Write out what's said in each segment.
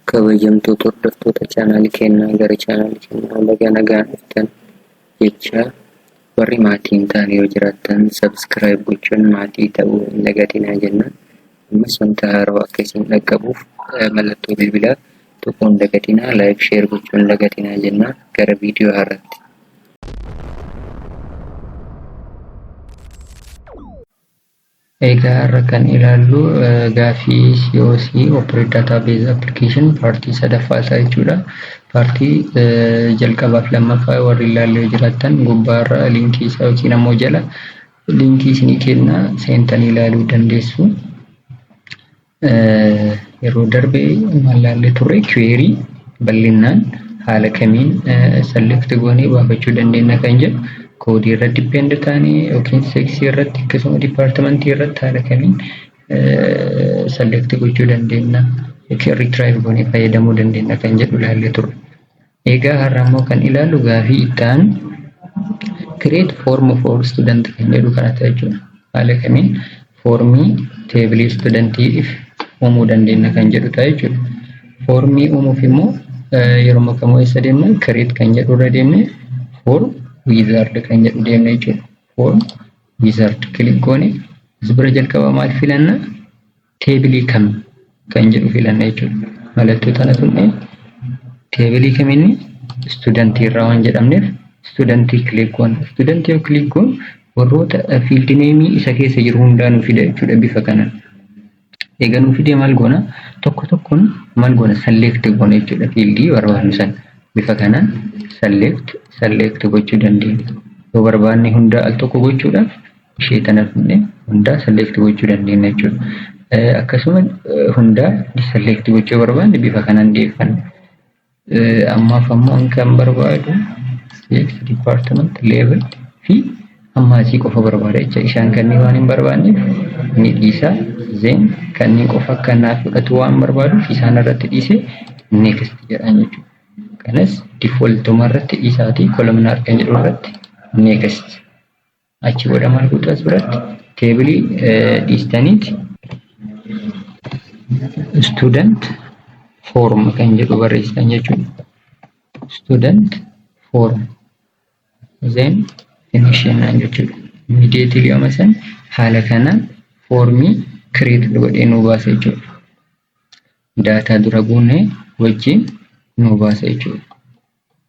kabajamtoota hordoftoota chaanaali kennaa gara chaanaali kennaa laga nagaan dhuftan jecha warri maatii hin taane yoo jiraattan sabskiraayib gochuun maatii ta'uu hin dagatinaa jenna ammas wanta haaroo akka isin dhaqqabuuf mallattoo bilbilaa tuquun dagatinaa laayik sheer gochuun dagatinaa jenna gara viidiyoo haaraatti Egaa har'a kan ilaallu gaaffii COC, Operate Database Application, paartii sadaffaa isaa jechuudha. Paartii jalqabaaf lammaffaa warri ilaalle yoo jiraattan gubbaarra liinkii isaa yookiin ammoo jala liinkii isinii kenna seentanii ilaaluu dandeessu. Yeroo darbe maal laallee turre query bal'inaan haala kamiin select goonee baafachuu dandeenya kan jedhu koodii irra depend taanee yookiin seeksii irratti akkasuma dipaartimentii irratti haala kamiin select gochuu dandeenya yookiin retrieve goonee fayyadamuu dandeenya kan jedhu laallee turre. Egaa har'a ammoo kan ilaallu gaafii itti aanu create form for student kan jedhu kana ta'a jechuudha. Haala kamiin foormii teebilii studentiif uumuu dandeenya kan jedhu ta'a jechuudha. Foormii uumuuf immoo yeroo kamuu eessa deemna create kan jedhu irra deemne form wizard kan jedhu deemna jechuudha. Form wizard click goone as bira jalqaba maal filanna? teebilii kam kan jedhu filanna jechuudha. Mallattoo tana tuqnee teebilii kam inni istuudantii irraa waan jedhamneef istuudantii kiliik goona. Istuudantii yoo kiliik goonu warroota fiildi neemii isa keessa jiru hundaa nu fida jechuudha bifa kanaan. Egaa nu fidee maal goona? Tokko tokkoon maal goona? Select goona jechuudha fiildii barbaadnu sana. Bifa kanaan select select gochuu dandeenya. Yoo barbaanne hundaa al tokko gochuudhaaf ishee tana dhufne hundaa select gochuu dandeenya jechuudha. Akkasuma hundaa select gochuu barbaanne bifa kanaan dhiyeeffanna. Ammaaf ammoo an kan barbaadu CX department level fi ammaasii qofa barbaada jecha isaan kanneen waan hin barbaanneef ni dhiisa zeen kanneen qofa akka naaf fudhatu waan barbaaduuf isaan irratti dhiise next jedhaan jechuudha. Kanas defaultuma irratti dhiisaatii kolumnar kan jedhu irratti next. Achi booda maal gootu as biratti teebilii dhiistaniiti student form kan jedhu barreessitan jechuudha. Student form then finish jennaan jechuudha. Immediately yooma san haala kanaan foormii create godhee nuu baasa jechuudha. Daataa dura buunee wajjin nuu baasa jechuudha.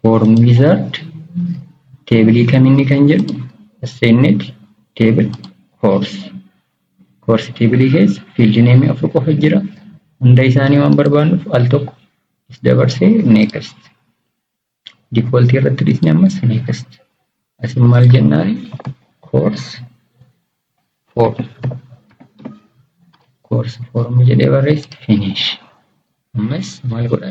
form wizard table kam inni kan jedhu ascended table course course table keessa field name afur qofa jira hunda isaanii waan barbaannuuf al tokko is dabarsee next default irratti dhisne ammas next asin maal jennaan course for course form jedhee barreesse finish ammas maal godha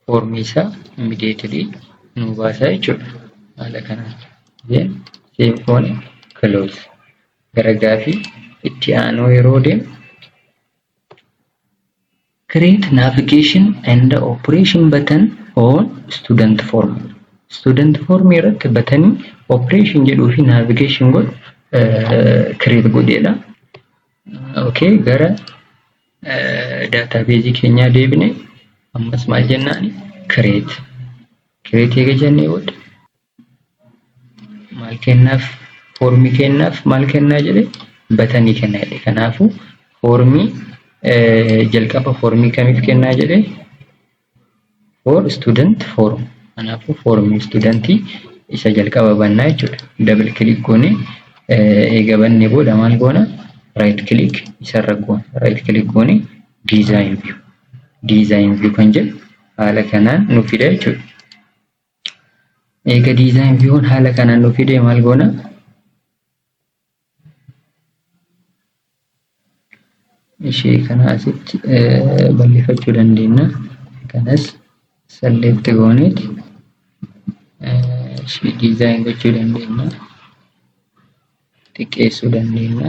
foormii isaa immediately nu baasaa jechuudha haala kanaan then save goone close gara gaafii itti aanuu yeroo deemu Create Navigation and Operation Button on Student Form. Student Form irratti batanii Operation jedhuu fi Navigation godhu create godheedha. Okay, gara database keenyaa deebine ammas maal jennaani create. Create eega jennee booda maal kennaaf foormii kennaaf maal kennaa jedhe batanii kennaa jedhe kanaafu foormii jalqaba foormii kamiif kennaa jedhe for student form kanaafu foormii studentii isa jalqaba bannaa jechuudha double click goone eega banne booda maal goona right click isarra goona right click goone design view design view kan jedhu haala kanaan nu fida jechuudha Eega design viewn haala kanaan nu fide maal goona? Ishee kana asitti balleeffachuu dandeenya. Kanas select gooneet ishee design gochuu dandeenya. Xiqqeessuu dandeenya.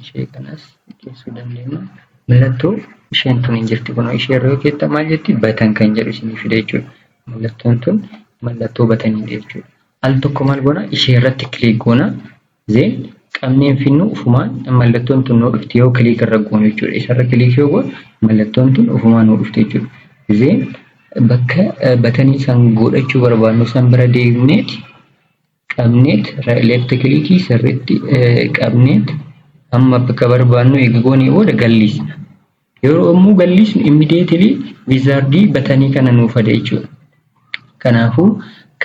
ishee kanas xiqqeessuu dandeenya. Mallattoo isheen tun hin jirti kunoo ishee irra yoo keetta maal jetti batan kan jedhu isinii fida jechuudha. Mallattoon tun mallattoo bataniidha jechuudha. Al tokko maal goona ishee irratti kiliik goona zeen qabneen finnu ufumaan mallattoon tun nuu dhufti yoo kiliik irra goonu jechuudha. Isarra kiliik yoo goonu mallattoon tun ufumaan nuu dhufti jechuudha. Zeen bakka batanii san godhachuu barbaadnu san bira deemneeti Qabneet left kilikii sirriitti qabneet amma bakka barbaannu eega goonee booda galliisna. Yeroo yommuu galliisnu immediately wizardii batanii kana nuuf fida jechuudha. Kanaafuu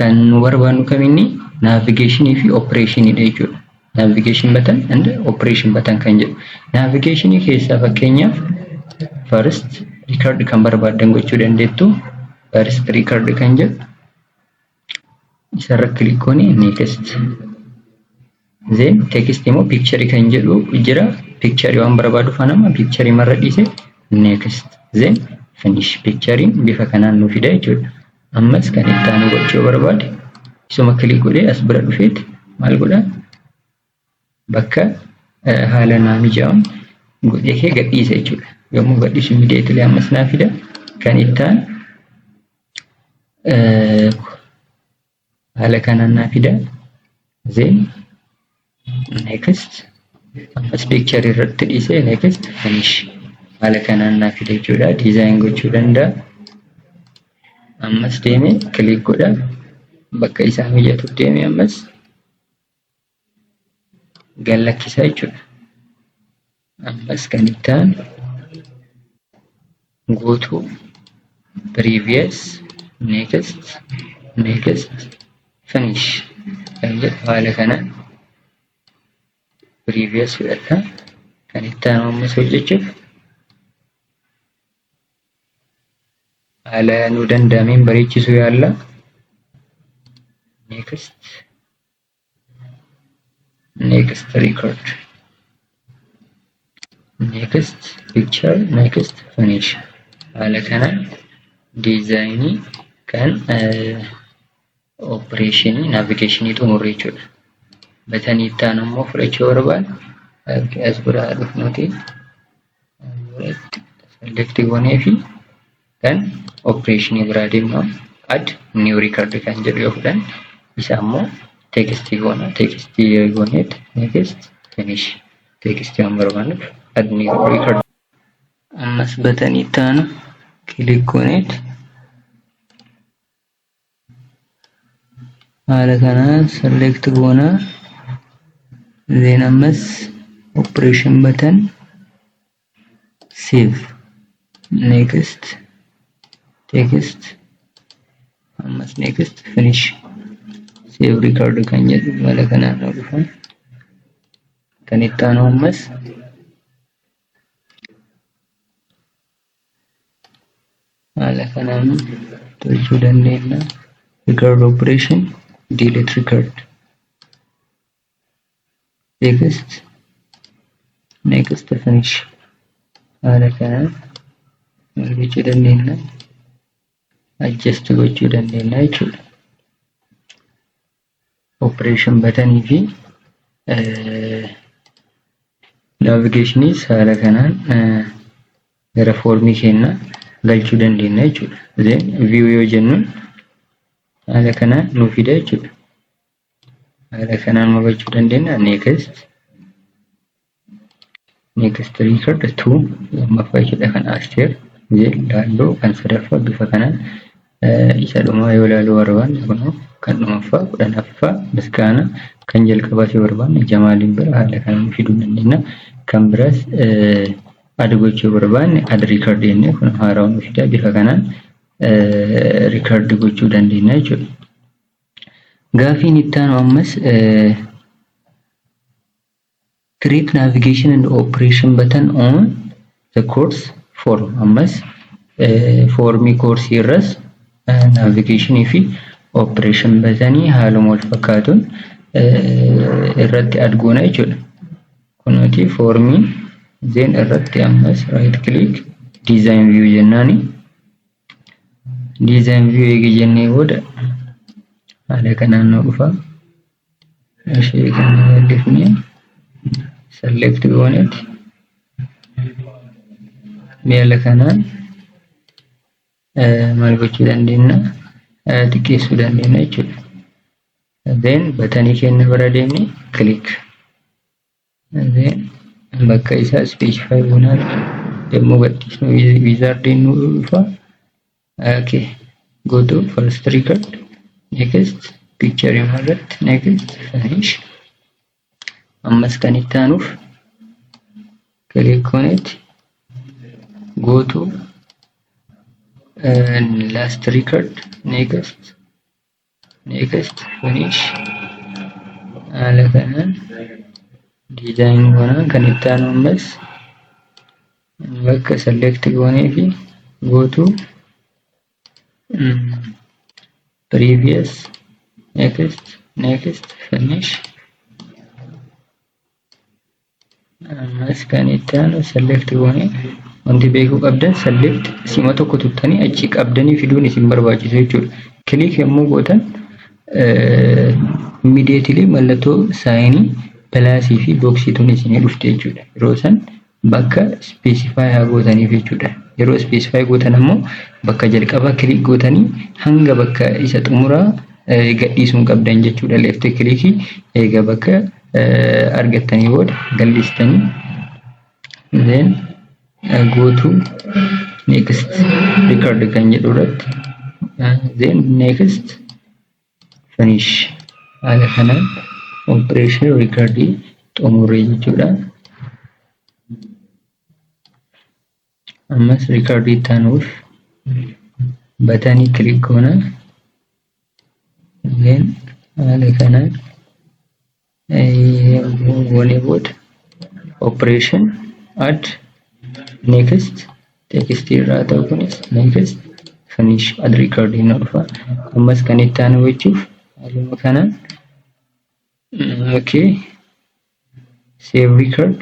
kan nu barbaannu kaminni navigation fi operation dha jechuudha. Navigation button and operation button kan jedhu. Navigation keessaa fakkeenyaaf first record kan barbaaddan gochuu dandeettu first record kan jedhu isarra click goone next then text immoo picture kan jedhu jira picture waan barbaadu fanama picture marra dhiise next then finish picture bifa kanaan nu fida jechuudha ammas kan itti aanu gochuu barbaade isuma click godhee as bira dhufeet maal godha bakka haala naa mijaa'uun godhee kee gadhiisa jechuudha. Yommuu gadhiisu immediately ammas naa fida. Kan ittaan haala kanaan naa fida. Then next ammas picture irratti dhiisee next finish haala kanaan naa fida jechuudha. Design gochuu danda'a. Ammas deemee click godha. Bakka isaa mijatuuf deemee ammas gad lakkisa jechuudha. Ammas kan itti aanu guutuu previous next next finish kan jedhu haala kanaan previous fudhadha. Kan itti aanu ammas hojjechuuf haala nu danda'ameen bareechisuu yaalla. Next next record next picture next finish haala kanaan diizaayinii kan opereeshinii naavigeeshinii xumurre jechuudha. Batanii itti aanu immoo fudhachuu barbaan as biraa dhufnuti selektii goonee fi kan opereeshinii biraa deemna add new record kan jedhu yoo fudhan isa ammoo teekistii goona teekistii yoo gooneet next finish teekistii waan barbaannuuf add new record ammas batanii itti aanu kilik gooneet haala kanaan select goona then ammas operation button save next text ammas next finish save record kan jedhu haala kanaan nu dhufa kan itti aanu ammas haala kanaan tolchuu dandeenya record operation delete record text next finish haala kanaan maal gochuu dandeenya adjust gochuu dandeenya jechuudha operation batanii fi navigeeshinii haala kanaan gara foormii keenya galchuu dandeenya jechuudha. Then view yoo jennuun haala kanaan nu fida jechuudha. Haala kanaan hubachuu dandeenya next. Next record to lammaffaa ishidha kan Asteer laalloo kan sadaffaa bifa kanaan isa dhumaa yoo laaluu barbaanne kunoo kan dhumaffaa kudhanaffaa misgaana kan jalqabaa si barbaanne jamaaliin bira haala kanaan fiduu dandeenya kan biraas ad gochuu barbaanne ad record jennee kun haaraa nu fidaa bifa kanaan record gochuu dandeenya jechuudha. Gaafiin itti aanu ammas Trip navigation and operation button on the course form. Ammas foormii koorsii irras navigation fi operation batanii haaluma wal fakkaatuun irratti add goona jechuudha. Kunooti foormii zeen irratti ammas right click design view jennaani. Design view eega jennee booda haala kanaan nu dhufa. Ishee kan bal'ifne select goonet miala kanaan maal gochuu dandeenya xiqqeessuu dandeenya jechuudha. Then batanii keenya bira deemnee click. Darbee bakka isaa specify goonaan yommuu gadhiisnu wizardiin nu dhufa. Okay. Go to first record. Next. Picture hima irratti. Next. Finish. Ammas kan itti aanuuf click on it. Go to uh, last record. Next. next finish haala kanaan design goonaan kan itti aanu ammas bakka select goonee fi go to previous next next finish Ammas kan itti aanu select goone wanti beekuu qabdan select sima tokko tuttanii achi qabdanii fiduun isin barbaachisa jechuudha. Click yommuu gootan immediately mallattoo saayinii pilaasii fi booksii tun isinii dhufte jechuudha. Yeroo san bakka specify haa gootaniif jechuudha. Yeroo specify gootan ammoo bakka jalqabaa click gootanii hanga bakka isa xumuraa gadhiisuun qabdan jechuudha. Left click eega bakka argattanii booda gal'istanii then go to next record kan jedhu irratti then next finish haala kanaan operation recordii xumuree jechuudha. Ammas riikardii itti aanuuf batanii kilik goona. Then haala kanaan yommuu goonee booda operation add next text irraa ta'u kunis next finish add riikardii nu dhufa. Ammas kan itti aanu gochuuf haaluma kanaan okay save record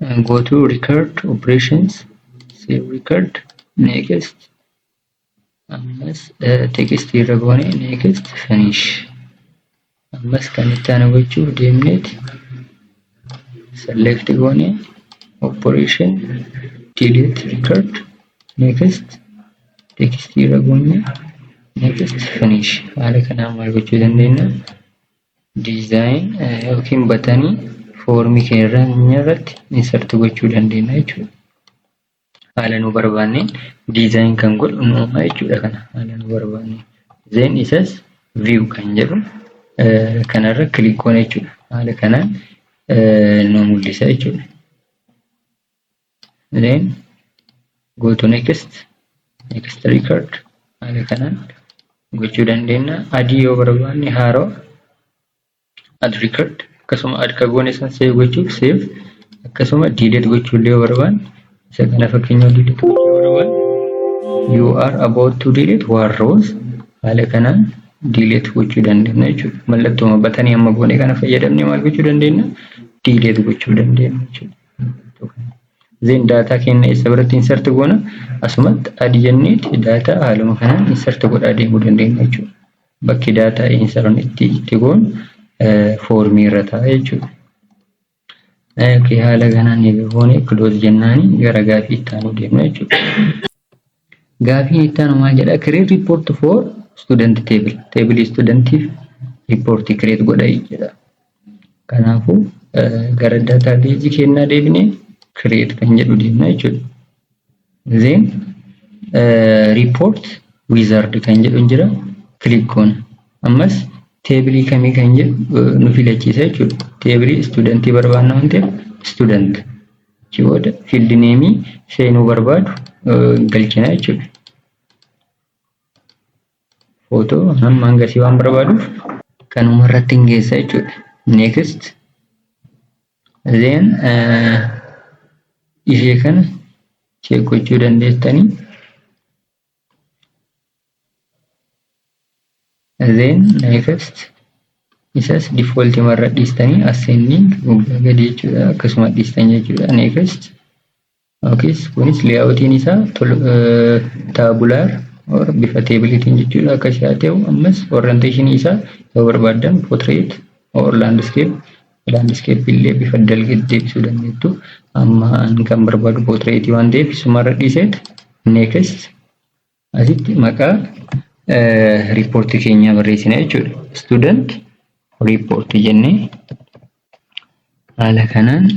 and go to record operations save record next ammas uh, text irra goone next finish ammas kan itti aanu gochuuf deemneeti select goone operation delete record next text irra goone next finish haala kanaan maal gochuu dandeenya design yookiin batanii foormii keenya irratti insert gochuu dandeenya jechuudha. Haala nu barbaanneen design kan godhu nu uumaa jechuudha kana haala nu barbaanneen. Then isas view kan jedhu kanarra click goona jechuudha. Haala kanaan nu mul'isa jechuudha. then go to next next record haala kanaan gochuu dandeenya adii yoo barbaanne haaroo ad record akkasuma ad kagoone san save gochuuf save akkasuma delete gochuu illee yoo barbaanne isa kana fakkeenyaaf delete gochuu yoo barbaanne you are about to delete one rows haala kanaan delete gochuu dandeenya jechuudha mallattuma batanii amma goone kana fayyadamne maal gochuu dandeenya delete gochuu dandeenya jechuudha Zeen daataa keenya eessa biratti insert goona asumatti adi jenneeti daataa haaluma kanaan insert godhaa deemuu dandeenya jechuudha. Bakki daataa insert itti itti goonu foormii irra ta'a jechuudha. Haala kanaan eegalee close jennaani gara gaaffii itti aanu deemna jechuudha. Gaafiin itti aanu maal jedha? Create report for student table. Table studentiif report create godha jedha. Kanaafuu gara database kennaa deebine create kan jedhu deemna jechuudha. Then report wizard kan jedhu jira. Click goona. Ammas teebilii kamii kan jedhu nu filachiisa jechuudha. Teebilii studentii barbaanna waan ta'eef student. Achi booda field name seenuu barbaadu galchina jechuudha. Footoo hamma hangasii waan barbaaduuf kanuma irratti hin geessa jechuudha. Next. Then ishee kana check gochuu dandeessanii. then next isas default marra dhiistanii ascending gubbaa gadi jechuudha akkasuma dhiistan jechuudha next okay kunis layoutiin isaa tabular or bifa teebilitiin jechuudha akka isaa ta'u ammas orientation isaa yoo barbaadan portrait or landscape Laandiskeeppii illee bifa dalgeetti deebisuu dandeettu. Amma ani kan barbaadu pootireetii waan ta'eef sumarra dhiiseet neekist asitti maqaa riippoortii keenyaa barreessina jechuudha. Student report jennee haala kanaan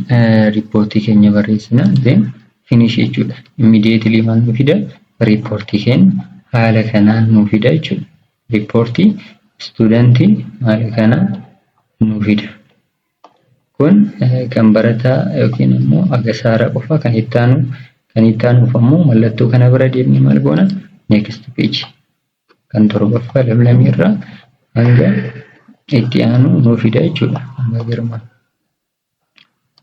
riippoortii keenya barreessina then finish jechuudha. Immediately maal nu fida riippoortii keenya haala kanaan nu fida jechuudha. Riippoortii istuudantii maali kana nuu fida. Kun kan barataa yookiin immoo agasaara qofa kan itti aanu kan itti aanuuf ammoo mallattoo kana bira deemnee maal goona next page kan torbaffaa lamlamii irraa hanga itti aanu nuu fida jechuudha. Amma girmaa.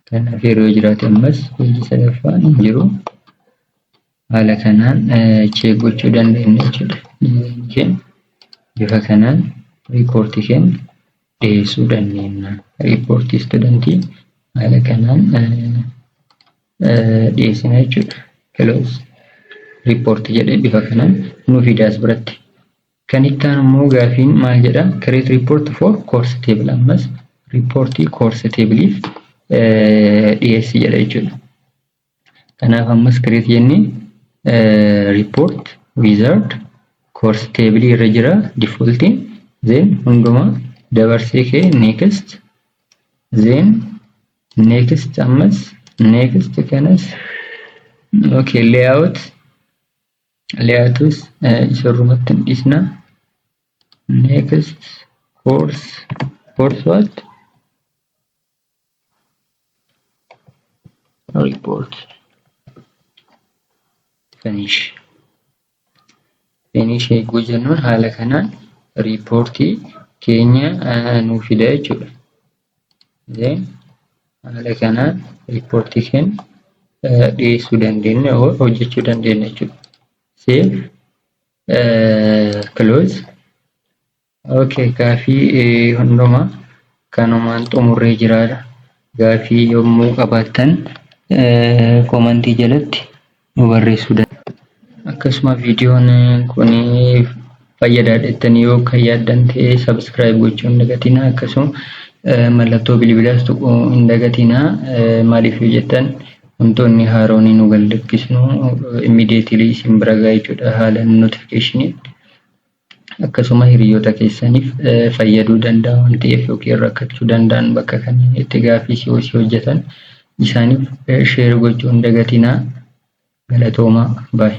Kanaaf yeroo yoo jiraate ammas hojii sadaffaan hin jiru. Haala kanaan cheek gochuu dandeenya jechuudha. Dizaayinii keenya bifa kanaan riippoortii keenya dhiyeessuu dandeenya. Riippoortii istuudantii haala kanaan dhiyeessina jechuudha. Kiloos riippoortii jedhee bifa kanaan nu fidaas biratti. Kan itti aanu immoo gaafiin maal jedha? Create report for course table ammas riippoortii course table'if dhiyeessi jedha jechuudha. Kanaaf ammas create jennee report wizard course table irra jira defaultiin then hunduma dabarsee kee next then next ammas next kanas okay layout Layouts isarrumatti hin dhiisna. Next course course what? Report finish finish eeguu jennuun haala kanaan riippoortii keenya nuu fida jechuudha. haala kanaan riippoortii keenya dhiyeessuu dandeenya hojjechuu dandeenya jechuudha. Save close okay gaafii hundumaa kanumaan xumurree jiraadha. Gaafii yommuu qabaattan komantii jalatti nu barreessuu dandeessu. Akkasuma viidiyoon kun fayyadaadha jettanii yoo kan yaaddan ta'e subscribe gochuu hin dagatinaa akkasuma mallattoo bilbilaas tuquu hin dagatinaa maaliif yoo jettan wantoonni haaroon nu gallakkisnu immediately isin bira ga'a jechuudha haala notification akkasuma hiriyoota keessaniif fayyaduu danda'a waan ta'eef yookiin rakkachuu danda'an bakka kanneen itti gaaffii COC hojjetan isaaniif sheer gochuu hin dagatinaa. Galatoomaa. Baay.